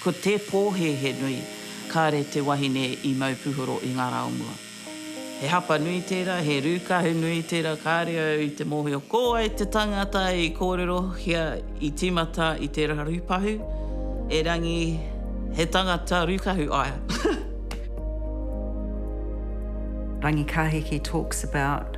Ko te pōhēhē nui, kāre te wahine i mau puhoro i ngā rā o mua. He hapa nui tērā, he rūkahu nui tērā, kāre au i te mōhio ko wai te tangata i kōrerohia i tīmata i te rarupahu, erangi he tangata rūkahu aia. Rangikahiki talks about.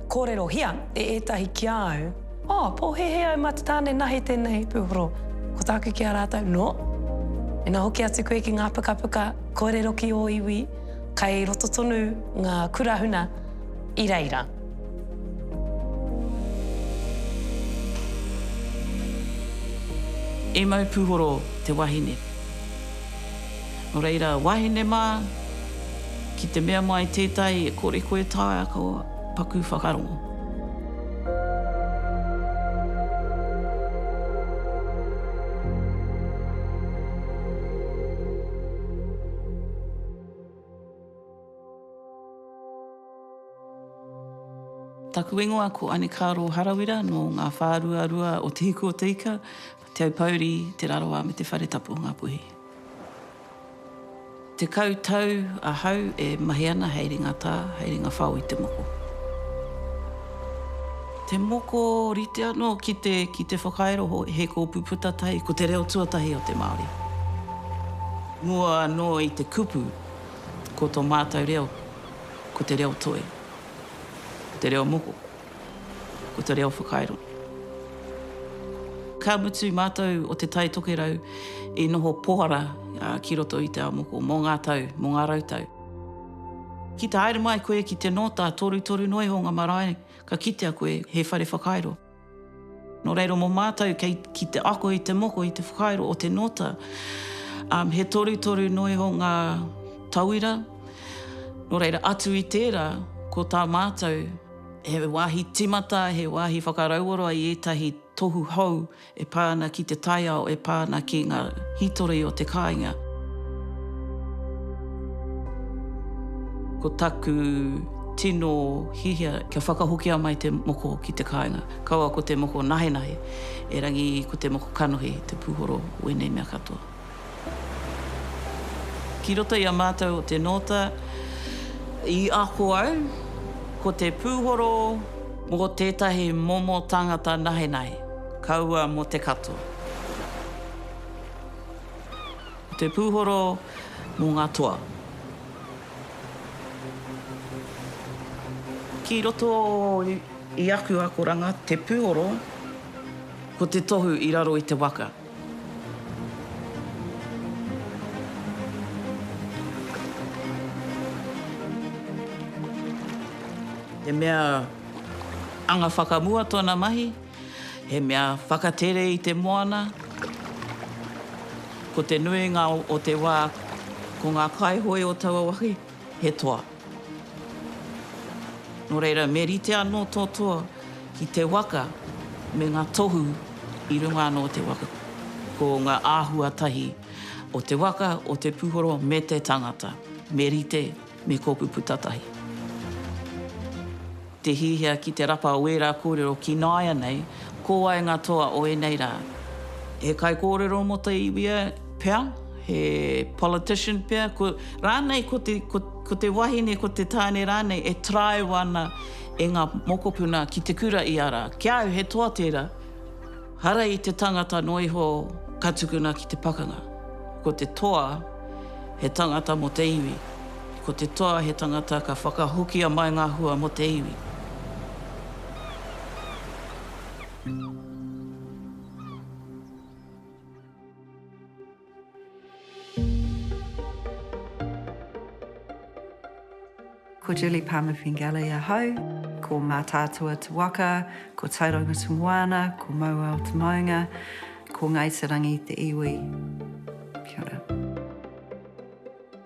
Kōrerohia e ētahi ki a au, Oh, pōhēhē au mā te tāne nahi tēnei, Pūhoro. Ko tāku ki a rātou, No. Ina hoki atu koe ki ngā pukapuka, kōrero ki ō iwi, kei roto tonu ngā kura huna i reira. E mau, Pūhoro te wahine. Nō reira, wahine mā, ki te mea mai tētahi e kore koe taea ko paku whakarongo. Taku ingoa ko Anekāro Harawira nō Ngā Whāruarua o Te Hiku o te Ika. Te Aupōuri, Te Rarawa me Te Whare Tapu o Ngāpuhi. Tekau tau ahau e mahi ana hei ringa tā, hei ringa whao i te moko. Te moko rite anō ki te, ki te whakairo he kōpū puta tahi, ko te reo tuatahi o te Māori. Mua anō i te kupu, ko tō mātou reo, ko te reo toi, ko te reo moko. ko te reo whakairo. Ka mutu mātou o Te Tai Tokerau i noho pohara ki roto i Te Aomoko mō ngā tau, mō ngā rau tau. Ki te haere mai koe ki te nōta, torutoru noa iho ngā marae ka kitea koe he whare whakairo. Nō reira mō mātou kei ki te ako i te moko, i te whakairo o te nōta, he torutoru noa iho ngā tauira, nō reira atu i tērā ko tā mātou, He wāhi tīmata, he wāhi whakarauora i ētahi tohu hou e pā ana ki te taiao, e pā ana ki ngā hītori o te kāinga. Ko taku tino hiahia kia whakahokia mai te moko ki te kāinga, kaua ko te moko nahenahe, erangi ko te moko kanohi te puhoro o ēnei mea katoa. Ki roto i a mātou o te nōta, i ako au, ko te pūhoro. Mō tētahi momo tāngata nahenahe, kaua mō te katoa. Ko te pūhoro mō ngā toa. Ki roto i aku akoranga, te pūhoro, ko te tohu i raro i te waka. He mea anga whakamua tona mahi, he mea whakatere i te moana. Ko te nuinga o te wa, ko nga kaihoe o taua wahi, he toa. Nō reira, me rite anō tō toa ki te waka me ngā tohu i runga anō o te waka. Ko ngā āhua tahi o te waka, o te puhoro me te tangata, me rite me kōku puta tahi. Te hiahia ki te rapa o ērā kōrero ki nāianei, ko wai ngā toa o ēnei rā? He kaikōrero mō te iwi pea? He politician pea? Rānei ko te, ko te wahine, ko te tāne rānei e taraiwa ana e ngā mokopuna ki te kura i a rā. Ki a au he toa tērā. Hara i te tangata noa iho ka tukuna ki te pakanga. Ko te toa he tangata mo te iwi. Ko te toa he tangata ka whakahokia mai nga hua mo te iwi. Ko Julie Palmer-Fingale ahau, ko Mātaatua te waka, ko Tauranga te moana, ko Mauao te maunga, ko Ngāi Te Rangi te iwi. Kia ora.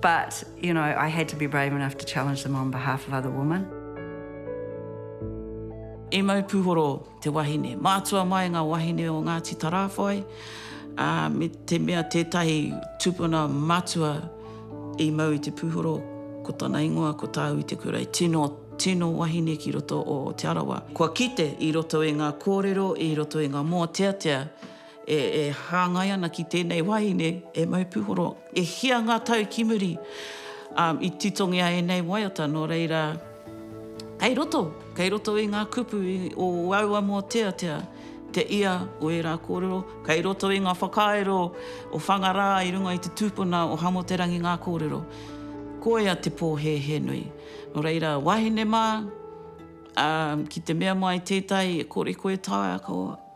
But, you know, I had to be brave enough to challenge them on behalf of other women. E mau puhoro te wahine. Mātua mai ngā wahine o Ngāti Tarāwhai, ā, me te mea tētahi tupuna matua i mau i te puhoro, ko tana ingoa ko Tāui Te Kurei. Tino, tino wahine ki roto o Te Arawa. Kua kite i roto i ngā kōrero, i roto i ngā mōteatea, E hāngai ana ki tēnei wāhine, e Mau Pūhoro. E hia ngā tau ki muri, ā, i titongia ēnei waiata, nō reira, kei roto, kei roto i ngā kupu o aua mōteatea te ia o ērā kōrero, kei roto i ngā whakairo o Whangarā i runga i te tūpuna o Hamoterangi ngā kōrero. Koia te pōhēhē nui. Nō reira, wāhine mā, ā, ki te mea mai tētahi e kore koe taea, ko.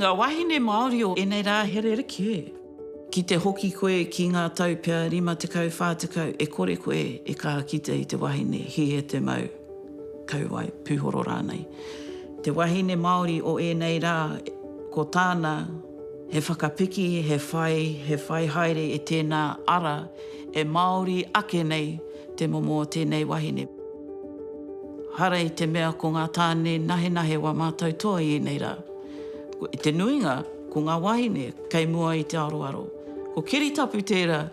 Nga wahine Maori o enei ra he rerekē. Ki te hoki koe ki nga tau pea rima tekau, wha tekau, e kore koe e ka kite i te wahine hihe te mau, kauae, puhoro ranei. Te wahine Maori o enei ra, ko tana. He whakapiki, he whai, he whai haere i tēnā ara e Māori ake nei te momo o tēnei wahine. Hara i te mea ko ngā tāne nahenahe wā mātau toa i ēnei rā. I te nuinga, ko ngā wahine kei mua i te aroaro. Ko Keri Tapu tērā.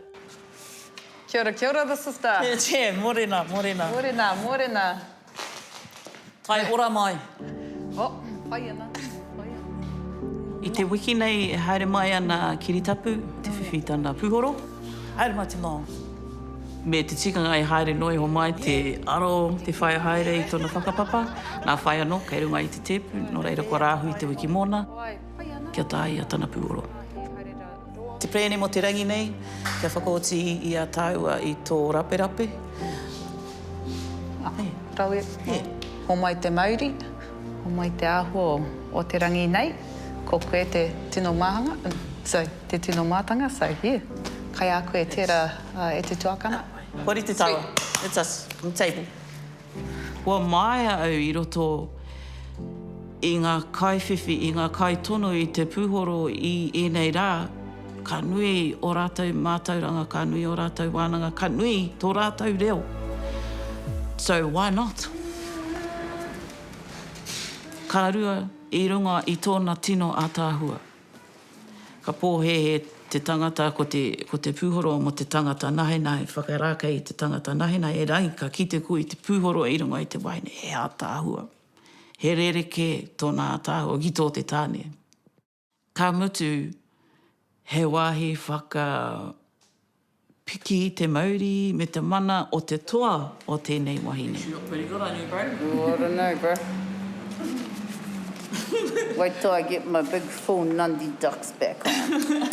Kia ora, kia ora, this is the. Che, che, morena, morena. Morena, morena. Tae ora mai. Oh, pai ana, pai ana. I te wiki nei e haere mai ana ki Ritapu te whiwhi tana puhoro. Haere mai te mao. Me te tikanga e haere noa iho mai te aro, te whaia haere i tona whakapapa. Na whai ano, kei runga i te tepu, no reira kua rahui te wiki mona. Kia tae ia tana puhoro. Te Pēne mō te rangi nei, kia whakaoti i a tāua i tō raperape. Ae, rawe. He. Homai te mauri, homai te āhua o te rangi nei, ko koe te tino māhanga, so, te tino mātanga, so, yeah. Kai a koe tērā e te tuakana. Hori te tawa. Sweet. Let us, on the table. Kua māia au i roto i ngā kaiwhiwhi, i ngā kaitono i te pūhoro i ēnei rā, ka nui ō rātou mātauranga, ka nui ō rātou wānanga, ka nui tō rātou reo. So why not? Ka rua i runga i tōna tino ātaahua. Ka pōhēhē te tangata ko te ko te pūhoro mō te tangata nahenahe whakarākei i te tangata nahenahe e rahi ka kite koe i te pūhoro i runga i te waeine he ātaahua he rerekē tōna ātaahua ki tō te tāne ka mutu he wāhi whaka Piki i te mauri me te mana o te toa o tēnei wahine. She look pretty good on you, bro. Ooh, I don't know, bro. Wait till I get my big full Nundy ducks back on.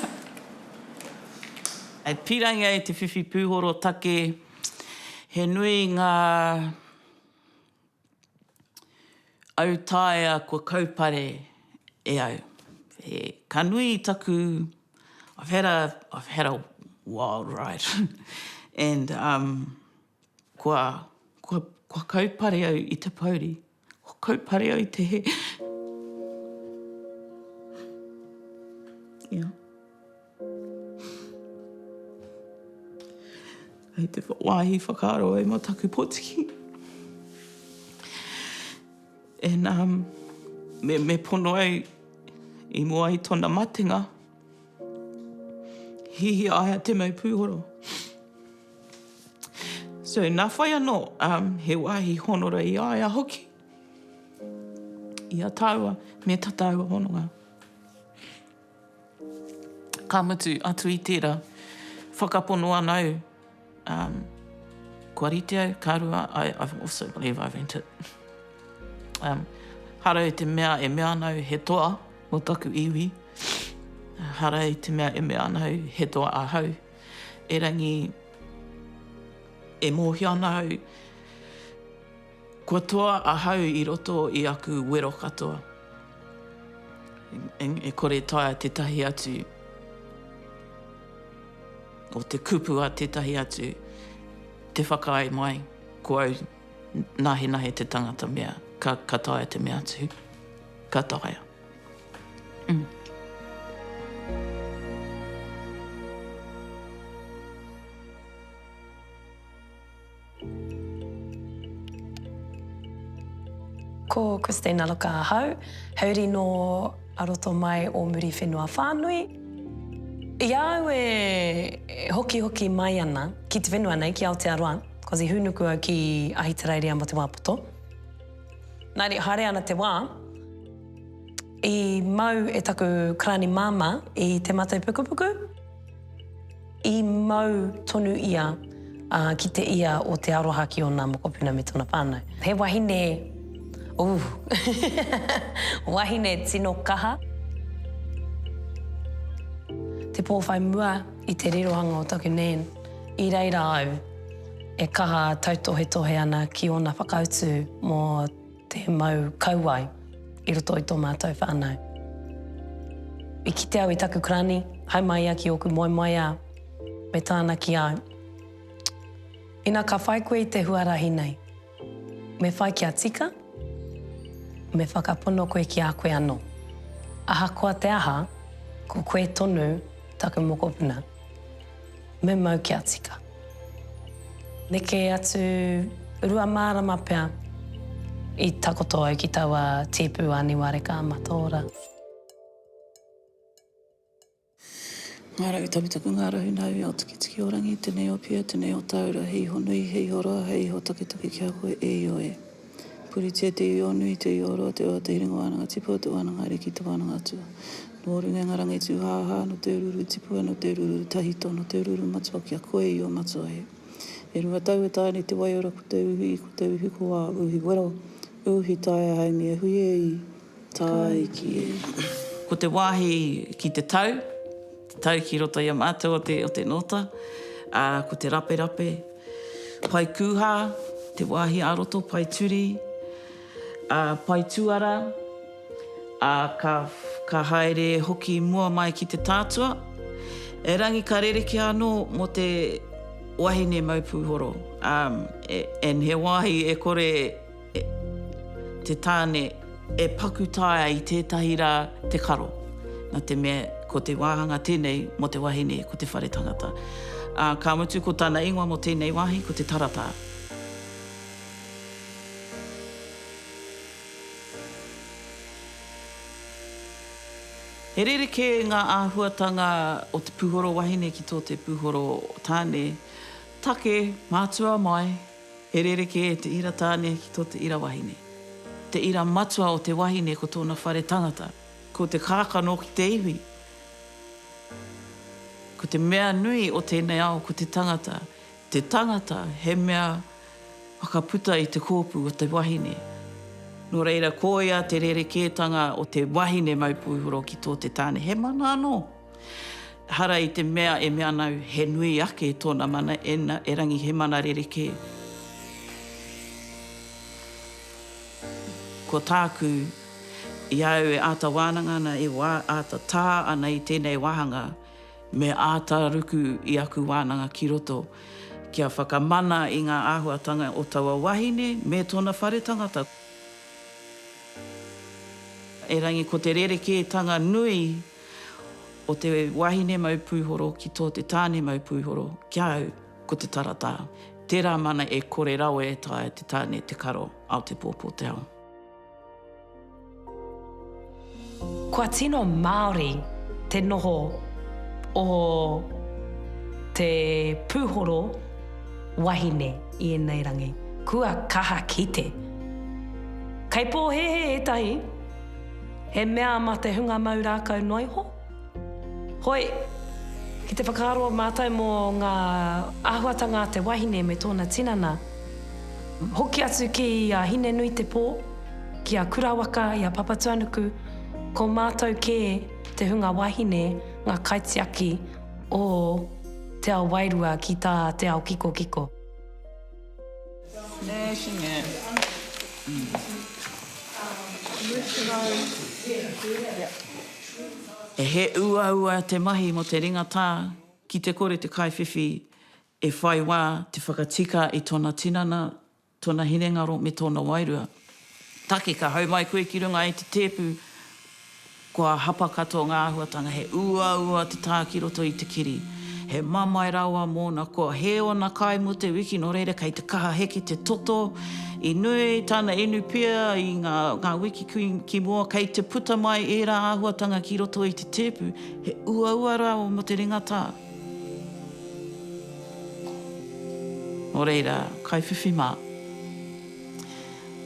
E pīrangi ai te whiwhi pūhoro take, he nui ngā. Autaia kua kaupare e au. He ka nui i taku I've had a I've had a wild ride and um kua kua kua kaupare au i te pouri. Kua kaupare au i te he. Yeah. Hei te wāhi whakaaro ai mō taku potiki. And um, me, me pono ai i mua ai tona matenga, hihi aia te mau pūhoro. So, nā whai anō, um, he wāhi honora i aia hoki. I a tāua, me ta tāua hononga. Ka mutu, atu i tērā, whakapono ana au, um, kua rite au, ka rua, I, I also believe I rent it. Um, hara i te mea e mea ana au he toa mo taku iwi, hara i te mea e mea ana au he toa ahau, erangi e mōhio ana au, Kua toa ahau i roto i aku wero katoa, e kore taea tētahi atu, o te kupu a tētahi atu, te whakaae mai, ko au, nahenahe te tangata mea, ka, ka taea te mea atu. Ka taea. Mm. Ko Christine Alloca ahau, hauri nō a roto mai o Muriwhenua whānui. I a au e hokihoki mai ana ki te whenua nei, ki Aotearoa, ko te hūnuku au ki Ahitereiria mō te wā poto. Nā reira, haere ana te wā, i mau e taku karani māmā i Te Matau Pukupuku. I mau tonu ia ki te ia o te aroha ki ona mokopuna me tona whanau. He wahine, ooh, wahine tino kaha. Te po whai mua i te rirohanga o taku Nan, i reira au e kaha tautohetohe ana ki ona whakautu mo Te mau kauae i roto i tō mātou whānau. I kite au i taku karani, hai mai ia ki ōku moemoeā, me tāna ki au. Ina ka whai koe i te huarahi nei, me whai kia tika, me whakapono koe ki a koe anō. Ahakoa te aha, ko koe tonu taku mokopuna. Me mau kia tika. Neke atu rua marama pea i takoto au ki taua tipu a Niwareka a Mataora. Nga rau taputapu, nga rau nau i ao tikitiki o rangi, tenei o pia, tenei o taura, he iho nui, he iho roa, he iho taketake ki a koe, e io e. Puritia te iwi-o nui, te iwi-o roa, te oha, te hiringa wānanga tipua, te wānanga ariki, te wānanga atua. Nō runga i ngā rangi tūhāhā, nō te ururū tipua, nō te ururū tahito, nō te ururū matua ki a koe i ō matua hē. E rua tau e taea nei te waiora ko te uhi, ko te uhi ko wā, uhi wero, uhi taea haumi e hui e i. Tāiki. Ko te wāhi ki te tau, te tau ki roto i a mātou o te, o te nōta, ā, ko te raperape, pae kūhā, te wāhi ā-roto, pae turi, ā, pae tuara, ā, ka, ka haere hoki mua mai ki te tātua. Erangi ka rerekē anō mō te wahine mau pūhoro, ā, e, and he wāhi e kore e. te tāne e paku taea i tētahi rā te karo, nā te mea ko te wāhanga tēnei mō te wahine ko te whare tangata. Ā, ka mutu ko tana ingoa mō tēnei wāhi ko te Taratā. He rerekē ngā āhuatanga o te puhoro wahine ki tō te puhoro tāne. Take, mātua mai, E rerekē te ira tāne ki tō te ira wahine. Te ira matua o te wahine ko tōna whare tangata. Ko te kākano ki te iwi. Ko te mea nui o tēnei ao ko te tangata. Te tangata he mea whakaputa i te kōpū o te wahine. Nō reira, koia te rerekētanga o te wahine mau pūhoro ki tō te tāne. He mana anō. Ehara i te mea e mea ana au he nui ake tōna mana, ena, erangi he mana rerekē. Ko tāku, i a au e āta wānanga ana, e āta tā ana i tēnei wāhanga, me āta ruku i aku wānanga ki roto, kia whakamana i ngā āhuatanga o taua wahine me tōna whare tangata. Erangi ko te rerekētanga nui. o te wahine mau pūhoro ki tō te tāne mau pūhoro, ki a au, ko te taratā. Tērā mana e kore rawe e taea te tāne te karo ao te pōpō te ao. Kua tino Māori te noho o te pūhoro wahine i ēnei rangi. Kua kaha kite. Kei pōhēhē ētahi. He mea ma te hunga mau rākau noa iho? Hoi, ki te whakaaro mātou mō ngā āhuatanga a te wahine me tōna tinana, hoki atu ki a Hine-nui-te-pō, ki a Kurawaka i a Papatuanuku, ko mātou kē te hunga wahine ngā kaitiaki o te ao wairua ki tā te ao kikokiko. He uaua te mahi mō te ringatā ki te kore te kaiwhiwhi e whai wā te whakatika i tōna tinana, tōna hinengaro me tōna wairua. Take, ka hau mai koe ki runga i te tēpu, kua hapa katoa ngā āhuatanga, he uaua te tā ki roto i te kiri, he mamae rawa mōna, kua hē ōna kai mō te wiki, nō reira kei te kaha heke te toto, i nui tana inu pia i ngā wiki ki mua, kei te puta mai ērā āhuatanga ki roto i te tēpu, he uaua rawa mō te ringa tā. Nō reira, kaiwhiwhi mā.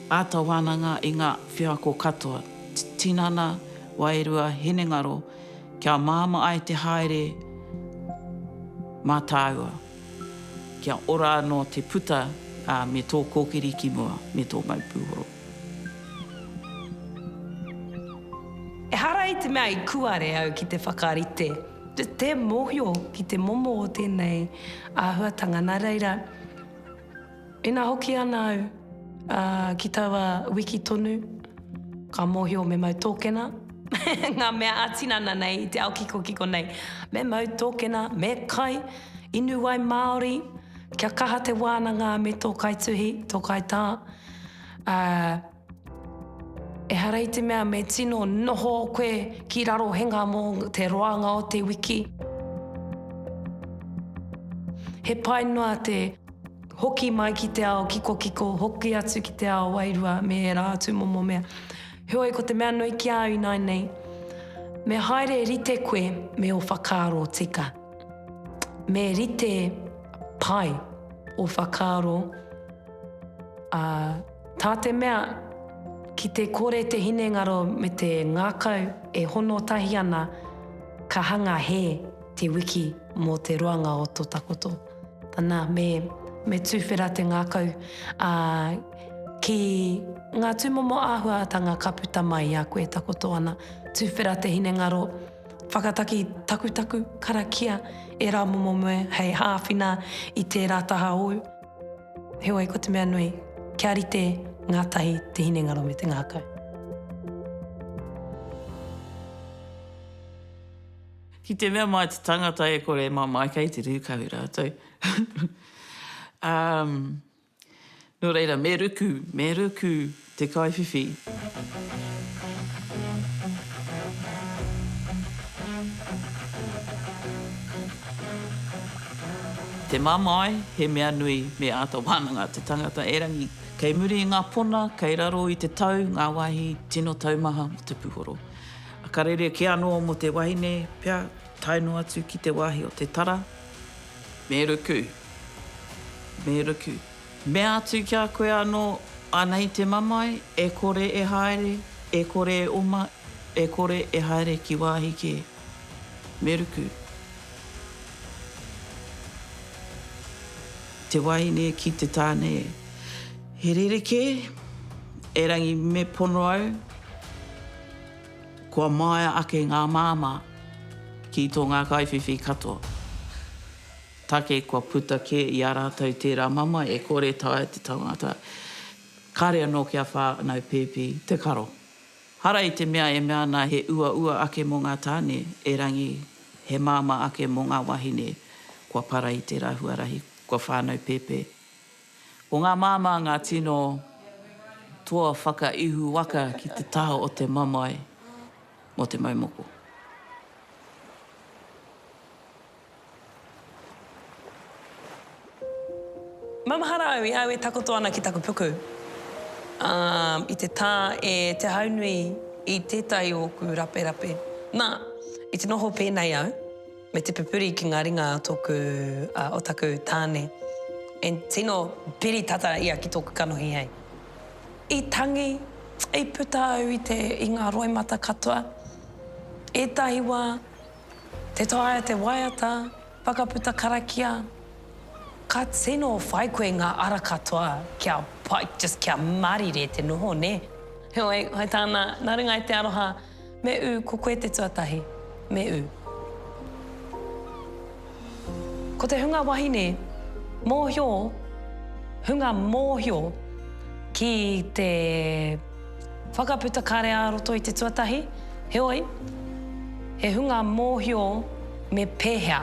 Āta wānanga i ngā wheako katoa, tinana, wairua, hinengaro, kia māmā ai te haere mā tāua, kia ora anō te puta, ā, me tō kōkiri ki mua, me tō mau pūhoro. Ehara i te mea i kuare au ki te whakarite te mōhio ki te momo o tēnei āhuatanga, nā reira, Ina hoki ana au ki taua wiki tonu, ka mōhio me mau tōkena ngā mea ā-tinana nei i te ao kikokiko nei. Me mau tōkena, me kai, inu wai māori, kia kaha te wānanga me tō kaituhi, tō kaitā. Ehara i te mea me tino noho koe ki Rarohenga mō te roanga o te wiki. He pai noa te hoki mai ki te ao kikokiko, hoki atu ki te ao wairua me ērā atu momo mea. Heoi, ko te mea nui ki au ināinei, me haere rite koe me o whakaaro tika. Me rite pai o whakaaro, ā, Tā te mea, ki te kore te hinengaro me te ngākau e hono tahi ana, ka hanga hē te wiki mō te roanga o tō takoto. Nā, me, me tuwhera te ngākau, ā, ki ngā tūmomo āhuatanga ka puta mai i a koe e takoto ana. Tuwhera te hinengaro, whakataki takutaku, karakia ērā momo moe hei āwhina i tērā taha hou. Heoi, ko te mea nui, kia rite ngātahi te hinengaro me te ngākau. Ki te mea mai te tangata e kore e mamae kei te rūkahu rātou. um, nō reira, me ruku, me ruku, te kaiwhiwhi. Te mamae, he mea nui me āta wānanga te tangata erangi. Kei muri i ngā pona, kei raro i te tau ngā wāhi tino taumaha mō te puhoro. Ka rerekē anō mō te wahine pea tae noa atu ki te wāhi o te tara, me ruku, me ruku. Mea atu ki a koe anō, Anei te mamae, e kore e haere, e kore e oma, e kore e haere ki wāhi kē. Me ruku. Te wahine ki te tāne e. He rerekē, erangi me pono au, kua māia ake ngā māmā ki tō ngā kaiwhiwhi katoa. Take kua puta kē i a rātou tērā mamae e kore taea te tangata, kāre anō kia whānau pēpi te karo. Hara i te mea e mea ana he uaua ake mō ngā tāne, erangi, he māmā ake mō ngā wāhine kua para i tērā huarahi kua whānau pēpē. Ko ngā māmā ngā tino toa whakaihu waka ki te taha o te mamae mō te mau moko. Ma mahara au i au e takoto ana ki taku puku. A, i te ta e Te Haunui i tetahi o oku raperape. Na, i te noho penei au, me te pupuri ki nga ringa a toku, a, o taku tane, e tino piri tata ia ki toku kanohi hei. I tangi, i puta au i te, i nga roimata katoa. Etahi wa, Te taea te waiata, whakaputa karakia, ka tino whai koe ngā ara katoa kia pai, just kia marire te noho, nē. Heoi, hai tā nā, nā runga i te aroha, me ū, ko koe te tuatahi, me ū. Ko te hunga wahine mōhio, hunga mōhio ki te whakaputa kare-ā-roto i te tuatahi, heoi, he hunga mōhio me pēhea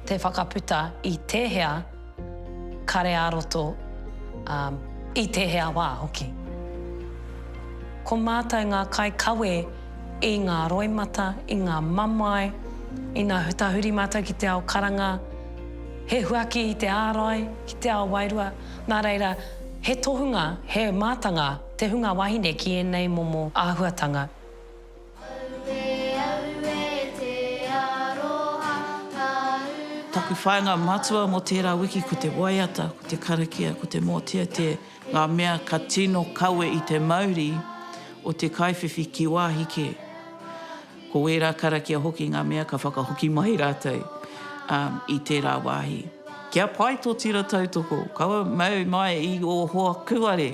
te whakaputa i tēhea Kare ā-roto, ā, i tēhea wā hoki. Ko mātou ngā kaikawe i ngā roimata, i ngā mamae, ina tahuri mātou ki te ao karanga, he huaki i te ārai, ki te ao wairua, nā reira, he tohunga, he mātanga te hunga wahine ki ēnei momo āhuatanga. Taku whāinga matua mō tērā wiki ko te waiata, ko te karakia, ko te mōteatea, ngā mea ka tino kawe i te mauri o te kaiwhiwhi ki wāhi kē. Ko wērā karakia hoki ngā mea ka whakahoki mai rātou i tērā wāhi. Kia pai tō tira tautoko, kaua mau mai i ō hoa kūare!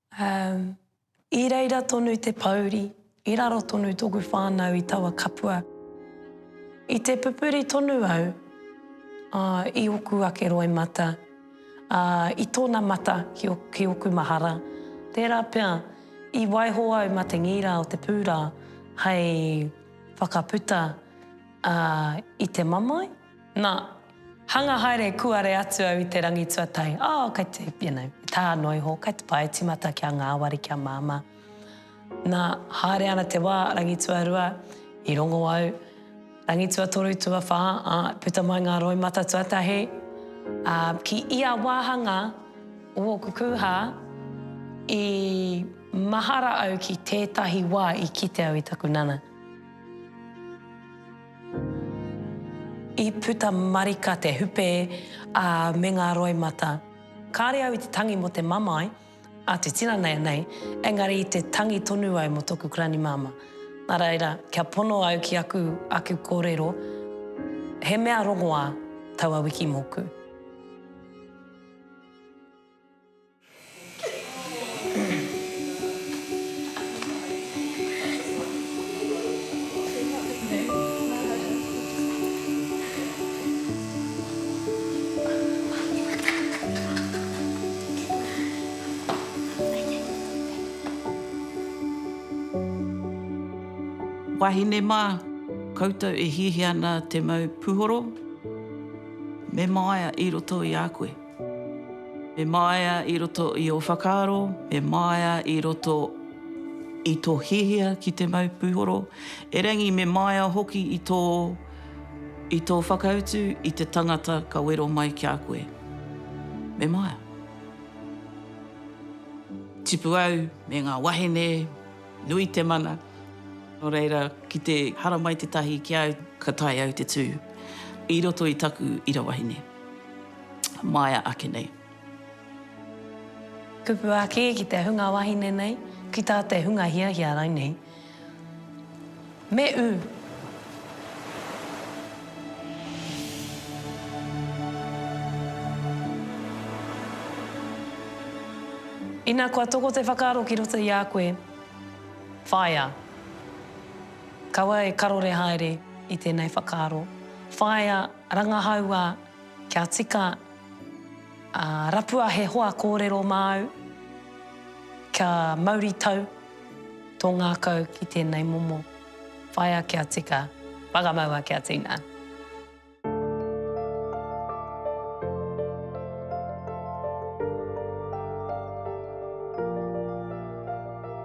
Umm. I reira tonu te pouri, i raro tonu toku whanau i taua kapua. I te pupuri tonu au, ah, i oku ake roimata, ah, i tona mata ki o, ki oku mahara. Tera pea, i waiho au ma te ngira o te pura hei whakaputa, ah, i te mamae. Na, hanga haere kuare atu au i te rangi tuatahi, oh, kei te, you know, i tā noa iho, kei te pae timata kia ngāwari, kia māmā. Na, haere ana te wā, rangi tuarua, i rongo au, rangi tuatoru, tuawhā, ā, i puta mai ngā roimata tuatahi, ā, ki ia wāhanga o ōku kūhā, i mahara au ki tētahi wā i kite au i taku nana. I puta marika te hupe, ā, me ngā roimata. Kāre au i te tangi mō te mamae a te tinanaia nei, engari i te tangi tonu au mō tōku Kuranimāmā. Nā reira, kia pono au ki aku aku kōrero, he mea rongoā taua wiki mōku. Wahine mā, koutou e hiahia ana te mau puhoro, me māia i roto i a koe. Me māia i roto i ō whakaaro, me māia i roto i tō hiahia ki te mau puhoro, erangi me māia hoki i tō, i tō whakautu i te tangata ka wero mai ki a koe. Me māia. Tipu au me ngā wahine, nui te mana, nō reira ki te haramai tētahi ki a au ka tae au te tū i roto i taku ira wahine. maea ake nei. Kupu ake ki te hunga wahine nei, ki tā te hunga hiahia rainei. Me ū. Ina kua toko te whakaaro ki roto i a koe, whaea. Kaua e karore haere i tēnei whakaaro. Whaea. Rangahaua, Kia tika, ā, rapua he hoa kōrero māu, kia mauritau tō ngākau ki tēnei momo. Whaea kia tika, whakamaua kia tina.